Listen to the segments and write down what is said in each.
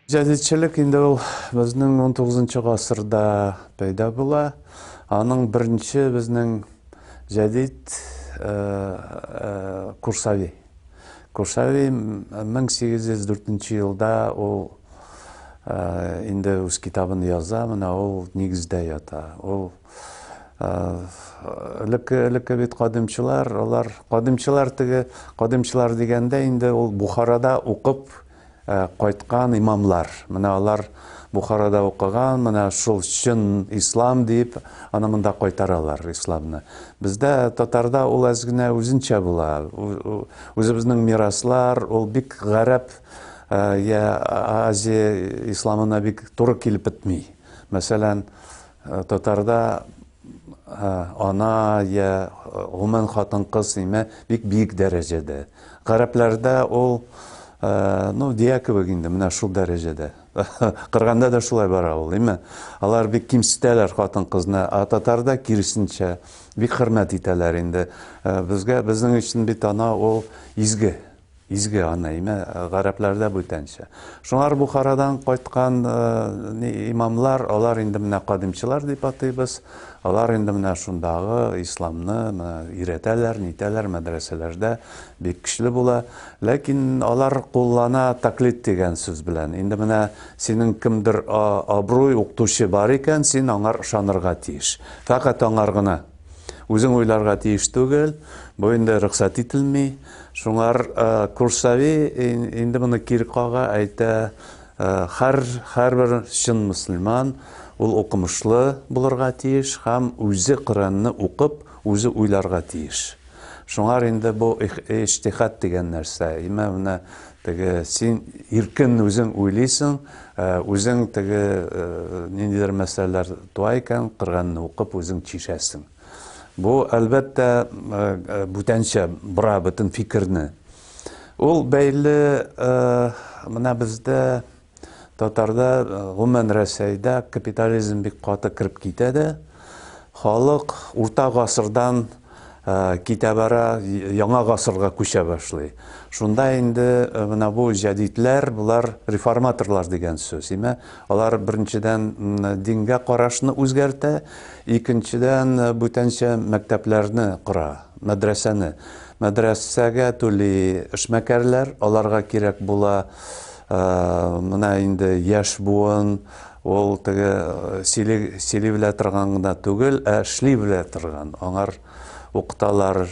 Җәдитчелек инде ул безнең 19 гасырда пәйда була. Аның беренче безнең җәдит э, э, Курсави. Курсави 1804 елда ул э, инде үз китабын яза, менә ул нигездә ята. Ул элекке элекке бит кадимчылар алар кадимчылар теге кадимчылар дигәндә инде ул бухарада укып кайткан имамлар менә алар бухарада укыган менә шул чын ислам дип аны монда кайтаралар исламны бездә татарда ул әз генә үзенчә була үзебезнең мираслар ул бик гарәп я азия исламына бик туры килеп бетми мәсәлән Э, татарда э, ана я гомумән хатын кыз сыймә бик биек дәрәҗәдә гарәпләрдә ул э, ну дия кебек инде менә шул дәрәҗәдә кырганда да шулай бара ул име алар бик кимсетәләр хатын кызны а татарда киресенчә бик хөрмәт итәләр инде безгә безнең өчен бит ана ул изге Изге ана, имә, гарәпләрдә бүтәнчә. Шуңар Бухарадан кайткан э, имамлар, алар инде менә кадимчылар дип атыйбыз. Алар инде менә шундагы исламны иретәләр, нитәләр мәдрәсәләрдә бик көчле була. Ләкин алар куллана таклит дигән сүз белән. Инде менә синең кемдер абруй укытучы бар икән, син аңар ышанырга тиеш. Фәкать аңар гына Үзең уйларга тиеш түгел, бу инде рөхсәт ителми. Шуңар Курсави инде моны кире кага, әйтә, хәр һәрбер чын мөселман ул укымышлы булырга тиеш һәм үзе Коръәнне укып, үзе уйларга тиеш. Шуңар инде бу иҗтихад дигән нәрсә. Имә менә теге син иркен үзең уйлыйсың, э, үзең теге э, ниндидер мәсьәләләр туа икән, Коръәнне укып үзең чишәсең. Бу әлбәттә э, бүтәнчә бора бөтен фикерне. Ул бәйле менә бездә Татарда, гомумән Рәсәйдә капитализм бик каты кереп китә дә, халык урта гасырдан китә бара, яңа гасырга күчә башлый. Шунда инде менә бу җәдидләр, болар реформаторлар дигән сүз. Имә, алар беренчедән дингә карашны үзгәртә, икенчедән бүтәнчә мәктәпләрне кора. Мәдрәсәне мәдрәсәгә түли эшмәкәрләр, аларга кирәк була менә инде яшь буын, ул теге сөйли сөйли белә торган гына түгел, ә эшли белә торган, аңар укыталар,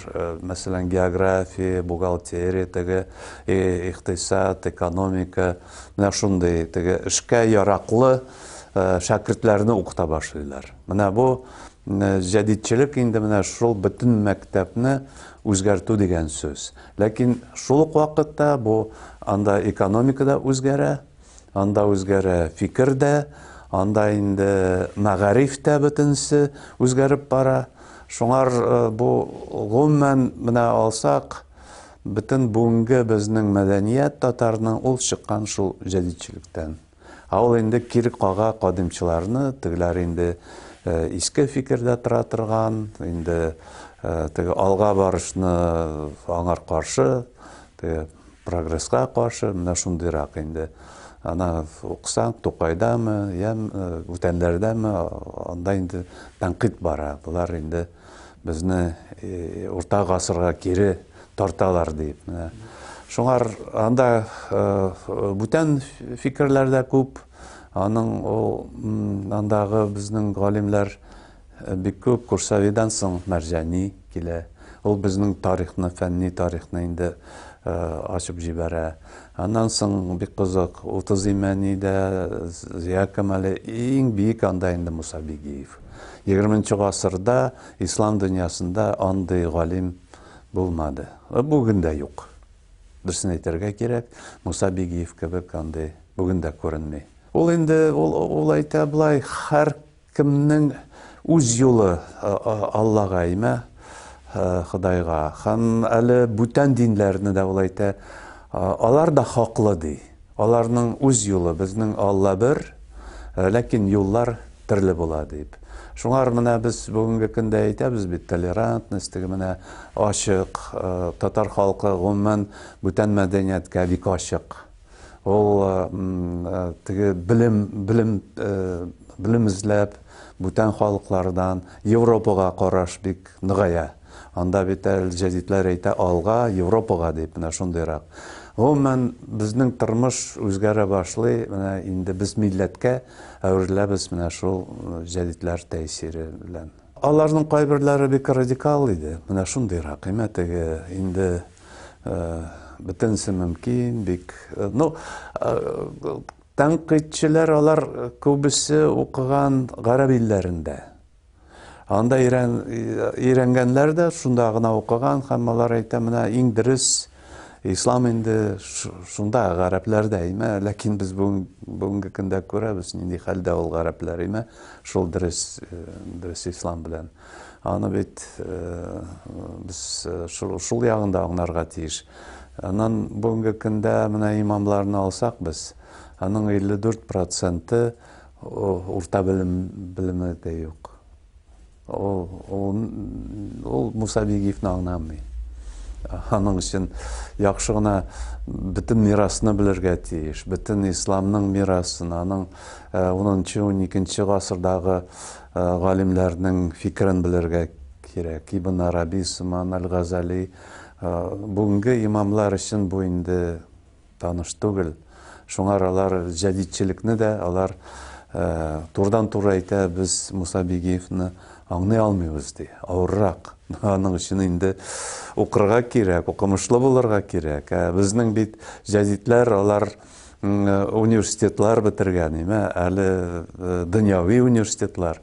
мәсәлән, география, бухгалтерия, теге икътисад, экономика, менә шундый теге эшкә яраклы шәкертләрне укыта башлыйлар. Менә бу Менә җәдидчелек инде менә шул бөтен мәктәпне үзгәртү дигән сүз. Ләкин шул ук вакытта бу анда экономика да үзгәрә, анда үзгәрә фикер дә, анда инде мәгариф тә бөтенесе үзгәреп бара. Шуңар бу гомумән менә алсак, бөтен бүгенге безнең мәдәният татарның ул чыккан шул җәдидчелектән. Ә ул инде кире кага кадимчыларны, тегеләр инде иске фикердә тора торган, инде теге алга барышны аңар каршы, теге прогресска каршы, менә шундыйрак инде. Ана уксаң, Тукайдамы, я бүтәннәрдәме, анда инде тәнкыйть бара. Болар инде Безне урта гасырга кире тарталар дип. Шуңар анда бүтән фикерләр дә күп. Аның ул андагы безнең галимнәр бик күп Курсавидан соң Мәрҗани килә. Ул безнең тарихны, фәнни тарихны инде ачып җибәрә. Аннан соң бик кызык, Утыз Имәни дә, Зия Камали, иң бик анда инде Муса Бигиев. Егерменче гасырда ислам дөньясында андый галим булмады. Э, бүген дә юк. Дөресен әйтергә кирәк, Муса Бигиев кебек андый бүген дә күренми. Ул инде ул, ул әйтә былай, һәр кемнең үз юлы Аллага имә, Худайга. Һәм әле бүтән динләрне дә ул әйтә, алар да хаклы ди. Аларның үз юлы, безнең Алла бер, ләкин юллар төрле була, дип. Шуңар менә без бүгенге көндә әйтәбез бит, толерантность, теге менә ачык, татар халкы гомумән бүтән мәдәнияткә бик ачык. Ул теге белем, белем, белем эзләп, бүтән халыклардан Европага караш бик ныгая. Анда бит әле җәдидләр әйтә алга, Европага дип, менә шундыйрак. Гомумән, безнең тормыш үзгәрә башлый, менә инде без милләткә әвереләбез менә шул җәдидләр тәэсире белән. Аларның кайберләре бик радикал иде, менә шундыйрак, әмма теге инде бөтенесе мөмкин, бик, ну, тәнкыйтьчеләр алар күбесе укыган гарәп илләрендә. Анда өйрәнгәннәр дә, шунда гына укыган һәм алар әйтә, менә иң дөрес ислам инде шунда гарәпләрдә име ләкин без бүгенге көндә күрәбез нинди хәлдә ул гарәпләр име шул дөрес э, дөрес ислам белән аны бит э, без э, шул, шул ягында аңларга тиеш анан бүгенге көндә менә имамларны алсак без аның 54 проценты Урта белем белеме дә юк. Ул ул ул Муса Бигиевне аңламый. Аның өчен яхшы гына бөтен мирасны белергә тиеш. Бөтен исламның мирасын, аның 10-12 гасырдагы галимнәрнең фикерен белергә кирәк. Ибн Араби, Суман аль-Газали, бүгенге имамлар өчен бу инде таныш түгел. Шуңа алар җәдидчелекне дә алар турыдан-туры әйтә, без Муса Бигиевны аңлый алмыйбыз ди. Авыррак. Аның өчен инде укырга кирәк, укымышлы булырга кирәк. Ә безнең бит җәдидләр алар университетлар бетергән, имә әле дөньяви университетлар.